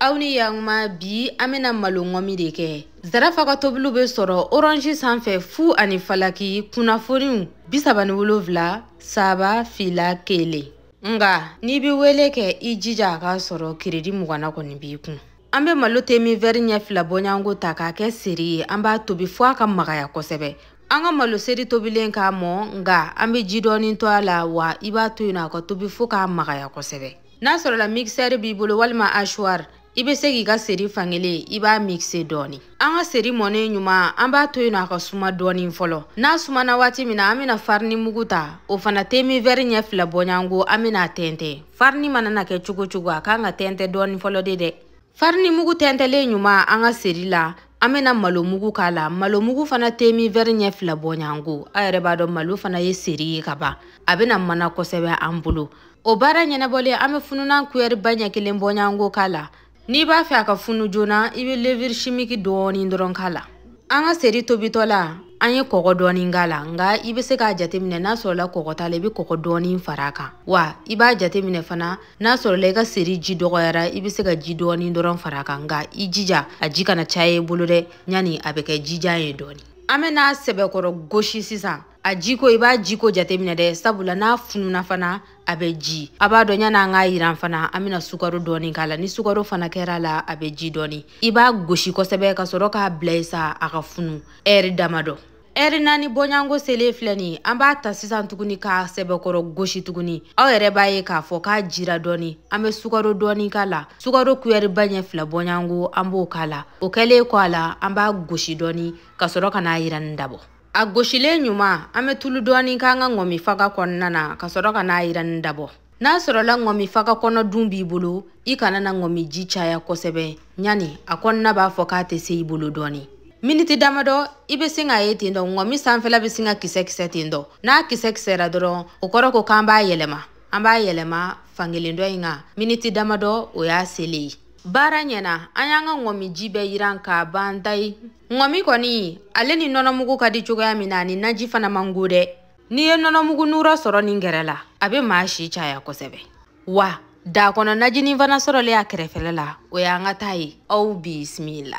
aw ni yaguma bi an bena malo ŋɔmi de kɛ zarafa ka tobiliw be sɔrɔ oranji sanfɛ fu ani falaki kunnafoniw bisaba ni wolonfila saba fila kelen nga n'i be wele kɛ i jija a k'a sɔrɔ kiredi muganna kɔni b'i kun an be malo te min vɛri ɲɛ fila bɔɲango ta k'a kɛ seri ye an b'a tobi fɔɔ a ka magaya kosɛbɛ an ka malo seri tobilen ka mɔ nga an be ji dɔɔni to a la wa i b'a to yen a ka tobi fɔɔ k'a magaya kosɛbɛ n'a sɔrɔla mixɛri b'i bolo walima ashuwari i bɛ se k'i ka seri fankelen i b'a mixe dɔɔni an ka seri mɔnen ɲuman an b'a to yen nɔ a ka suma dɔɔni fɔlɔ n'a sumana waati min na an bɛna farini mugu ta o fana te min vɛri ɲɛ fila bɔɲango an bɛna a tɛntɛn farini mana na kɛ cogo cogo a kan ka tɛntɛn dɔɔni fɔlɔ de dɛ farini mugu tɛntɛlen ɲuman an ka seri la an bɛna malo mugu k'a la malo mugu fana te min vɛri ɲɛ fila bɔɲango a yɛrɛ b'a dɔn malo fana ye seri ye ka ban a bɛna mana kosɛbɛ an bolo o baara ɲɛnabɔlen an bɛ fununan kuyɛri ba ɲɛ kelen bɔɲango k'a la n'i b'a fɛ a ka funu joona i bɛ leviri shimiki dɔɔni dɔrɔn k'a la an ka seri tobitɔ la an ye kɔgɔ dɔɔni k'a la nga i bɛ se k'a jateminɛ n'a sɔrɔla kɔgɔ t'a la i bɛ kɔgɔ dɔɔni fara a kan wa i b'a jateminɛ fana n'a sɔrɔla i ka seri ji dɔgɔyara i bɛ se ka ji dɔɔni dɔrɔn fara a kan nga i jija a ji kana caya i bolo dɛ yanni a bɛ kɛ jijan ye dɔɔni an bɛn'a sɛbɛkɔrɔ gosi sisan a jiko i b'a jiko jateminɛ dɛ sabula n'a fununa fana a bɛ ji a b'a dɔn yan'an k'a yiran fana an bɛna sukaro dɔɔni k'a la ni sukaro fana kɛr'a la a bɛ ji dɔɔni i b'a gosi kosɛbɛ ka sɔrɔ k'a bila yen sa a ka funu ɛri damadɔ ɛri naani bɔɲanko selen filɛ nin an b'a ta sisan tuguni k'a sɛbɛkɔrɔ gosi tuguni aw yɛrɛ b'a ye k'a fɔ k'a jira dɔɔni an bɛ sukaro dɔɔni k'a la sukaro kuyɛriba ɲɛ fila bɔɲanko an b'o k'a la o kɛlen kɔ a la an b'a gosi dɔɔni ka sɔrɔ ka n'a yiranni dabɔ a gosilen ɲuman an bɛ tulu dɔɔni k'an ka ŋɔmi faga kɔnɔna na ka sɔrɔ ka n'a yiranni dabɔ n'a sɔrɔla ŋɔmi faga kɔnɔ dun b'i bolo i kana na ŋɔmi ji caya kosɛbɛ ɲani a kɔnɔna b'a fɔ k'a tɛ se i bolo dɔɔni miniti damadɔ i bɛ sin k'a ye ten dɔ ŋɔmi sanfɛla bɛ sin ka kisɛ-kisɛ ten dɔ n'a kisɛ-kisɛra dɔrɔn o kɔrɔ ko k'an b'a yɛlɛma an b'a yɛlɛma fankelen dɔ in kan miniti damadɔ o y'a selen ye baara ɲɛna an y'an ka ŋɔmi ji bɛɛ yiran k'a ban tayi ŋɔmi kɔni ale ni nɔnɔmugu ka di cogoya min na ani naji fana man go dɛ n'i ye nɔnɔmugu nura sɔrɔ nin gɛrɛ la a bɛ maa si caya kosɛbɛ wa daa kɔnɔ najinin fana sɔrɔlen a kɛrɛfɛla la o y'an ka taa ye aw bisimila